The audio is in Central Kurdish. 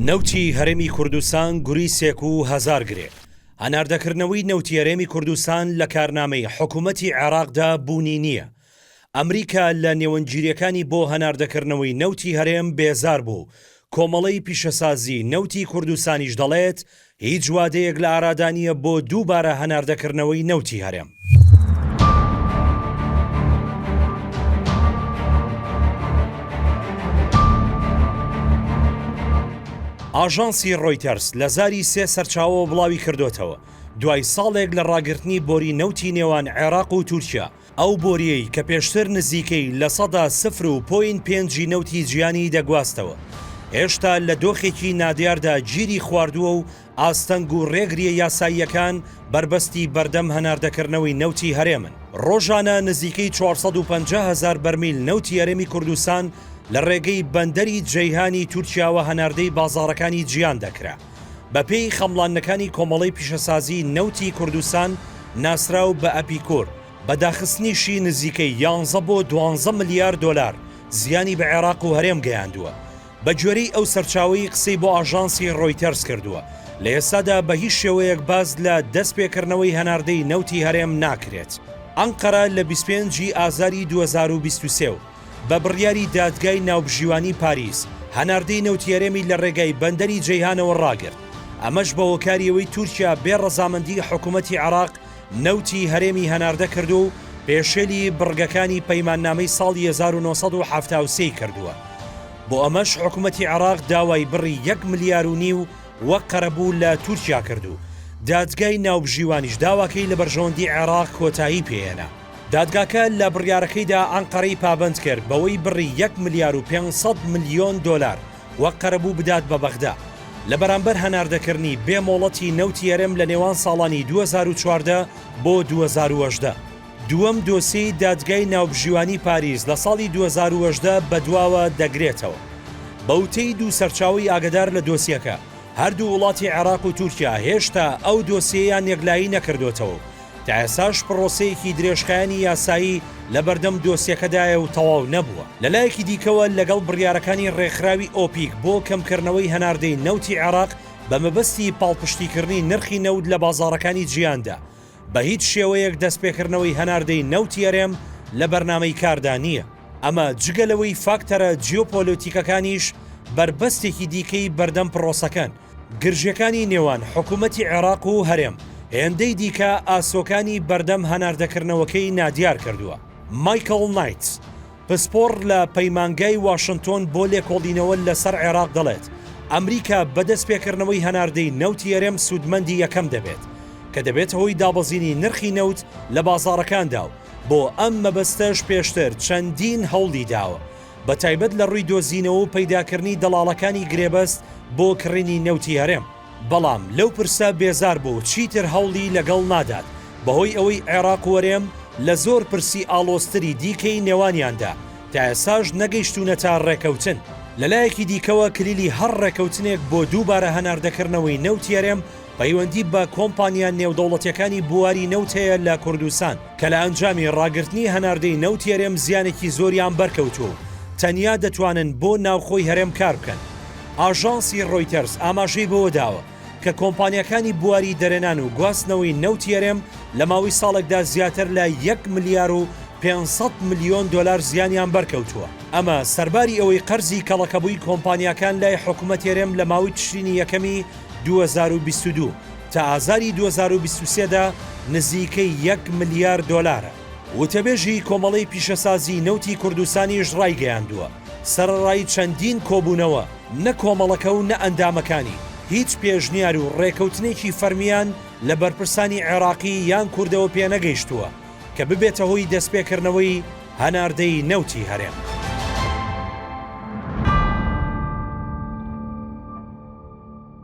نەوتی هەرێمی کوردستان گوری سێک و هەزار گرێ، هەناردەکردنەوەی نەوتی هەرێمی کوردستان لە کارنامەی حکوومەتی عێراقدا بوونی نییە. ئەمریکا لە نێوەندگیرییەکانی بۆ هەناردەکردنەوەی نەوتی هەرێم بێزار بوو و کۆمەڵەی پیشەسازی نەوتی کوردستانیش دەڵێت، هیچ وادەیەک لە ئارادا نییە بۆ دووبارە هەناردەکردنەوەی نەوتی هەرێم. ئاژانسی ڕۆیتەرز لە زاری سێ سەرچاوەوە بڵاویکردووەتەوە، دوای ساڵێک لە ڕاگرتنی بۆری نەوتی نێوان عێراق و تورکیا، ئەو بۆرییەی کە پێشتر نزیکەی لە سەدا سفر و پۆینت پێنجی نەوتی جیهانی دەگواستەوە، هێشتا لە دۆخێکی نادیاردا گیری خواردووە و ئاستەنگ و رێگرییە یاساییەکان بەربەستی بەردەم هەناردەکردنەوەی نەوتی هەرێمن. رۆژانە نزیکەی چوار سەد و پەنجا هەزار بەرمیل نەوتی هەرێمی کوردستان لە رێگەی بەندەری جەیهانی تورکیاوە هەناردەی بازاڕەکانی جیهان دەکرا. بەپێی خەمڵاندنەکانی کۆمەڵەی پیشەسازی نەوتی کوردستان ناسراو بە ئەپیکۆر، بە داخستنیشی نزیکەی یانزە بۆ دوانزە ملیار دۆلار زیانی بە عێراق و هەرێم گەیاندووە. بەگوێرەی ئەو سەرچاوەی قسەی بۆ ئاژانسی رۆیتەرز کردووە، لە ئێستادا بە هیچ شێوەیەک باس لە دەستپێکردنەوەی هەناردەی نەوتی هەرێم ناکرێت. ئەنقەرە لە بیست و پێنج ی ئازاری دوو هەزار و بیست و سێ و. بە بڕیاری دادگای ناوبژیوانی پاریس هەناردەی نەوتی هەرێمی لە ڕێگای بەندەری جەیهانەوە ڕاگرت، ئەمەش بە هۆکاری ئەوەی تورکیا بێ ڕەزامەندی حکوومەتی عێراق نەوتی هەرێمی هەناردە کردووە و پێشێلی بڕگەکانی پەیماننامەی ساڵی هەزار و نۆ سەد و حەفتا و سێ ی کردووە بۆ ئەمەش حکوومەتی عێراق داوای بڕی یەک ملیار و نیو وەک قەرەبوو لە تورکیا کرد و دادگای ناوبژیوانیش داواکەی لە بەرژەوەندی عێراق کۆتایی پێهێنا. دادگاکە لە بڕیارەکەیدا ئەنقەرەی پابەند کرد بەوەی بڕی یەک ملیار و پێنج سەد ملیۆن دۆلار وەک قەرەبوو بدات بە بەغدا لە بەرامبەر هەناردەکردنی بێ مۆڵەتی نەوتی هەرێم لە نێوان ساڵانی دوو هەزار و چواردە بۆ دوو هەزار و هەژدە. دووەم دۆسیەی دادگای ناوبژیوانی پاریس لە ساڵی دوو هەزار و هەژدە بەدواوە دەگرێتەوە. بە وتەی دوو سەرچاوەی ئاگەدار لە دۆسیەکە، هەردوو وڵاتی عێراق و تورکیا هێشتا ئەو دۆسیەیان یەکلایی نەکردۆتەوە و تا ئێستاش پڕۆسەیەکی درێژخایەنی یاسایی لە بەردەم دۆسیەکەدایە و تەواو نەبووە، لە لایەکی دیکەوە لەگەڵ بڕیارەکانی ڕێکخراوی ئۆپیک بۆ کەمکردنەوەی هەناردەی نەوتی عێراق بە مەبەستی پاڵپشتیکردنی نرخی نەوت لە بازاڕەکانی جیهاندا، بە هیچ شێوەیەک دەستپێکردنەوەی هەناردەی نەوتی هەرێم لە بەرنامەی کاردا نییە. ئەمە جگە لەوەی فاکتەرە جیۆپۆلۆتیکەکانیش بەربەستێکی دیکەی بەردەم پڕۆسەکەن، گرژیەکانی نێوان حکومەتی عێراق و هەرێم هێندەی دیکە ئاسۆکانی بەردەم هەناردەکردنەوەکەی نادیار کردووە. مایکڵ نایتس، پسپۆڕ لە پەیمانگای واشنتۆن بۆ لێکۆڵینەوە لەسەر عێراق دەڵێت، ئەمریکا بە دەستپێکردنەوەی هەناردەی نەوتی هەرێم سوودمەندی یەکەم دەبێت، کە دەبێتە هۆی دابەزینی نرخی نەوت لە بازاڕەکاندا و بۆ ئەم مەبەستەش پێشتر چەندین هەوڵی داوە، بە تایبەت لە ڕووی دۆزینەوە و پەیداکردنی دەڵاڵەکانی گرێبەست بۆ کڕینی نەوتی هەرێم، بەڵام لەو پرسە بێزار بوو و چیتر هەوڵی لەگەڵ نادات، بەهۆی ئەوەی عێراق وەرێم لە زۆر پرسی ئاڵۆزتری دیکەی نێوانیاندا تا ئێستاش نەگەیشتوونەتە ڕێکەوتن. لە لایەکی دیکەوە کلیلی هەر ڕێکەوتنێک بۆ دووبارە هەناردەکردنەوەی نەوتی هەرێم، پەیوەندی بە کۆمپانیا نێودەوڵەتیەکانی بواری نەوت هەیە لە کوردستان کە لە ئەنجامی ڕاگرتنی هەناردەی نەوتی هەرێم زیانێکی زۆریان بەرکەوتووە و تەنیا دەتوانن بۆ ناوخۆی هەرێم کار بکەن. ئاژانسی ڕۆیتەرز ئاماژەی بەوە داوە کە کۆمپانیاکانی بواری دەرێنان و گواستنەوەی نەوتی هەرێم لە ماوەی ساڵێکدا زیاتر لە یەک ملیار و پێنج سەد ملیۆن دۆلار زیانیان بەرکەوتووە، ئەمە سەرباری ئەوەی قەرزی کەڵەکەبووی کۆمپانیاکان لای حکومەتی هەرێم لە ماوەی تشرینی یەکەمی دوو هەزار و بیست و دوو تا ئازاری دوو هەزار و بیست و سێ دا نزیکەی یەک ملیار دۆلارە. وتەبێژی کۆمەڵەی پیشەسازی نەوتی کوردستانیش ڕایگەیاندووە، سەرەڕای چەندین کۆبوونەوە، نە کۆمەڵەکە و نە ئەندامەکانی هیچ پێشنیار و ڕێکەوتنێکی فەرمییان لە بەرپرسانی عێراقی یان کوردەوە پێنەگەیشتووە کە ببێتە هۆی دەستپێکردنەوەی هەناردەی نەوتی هەرێم.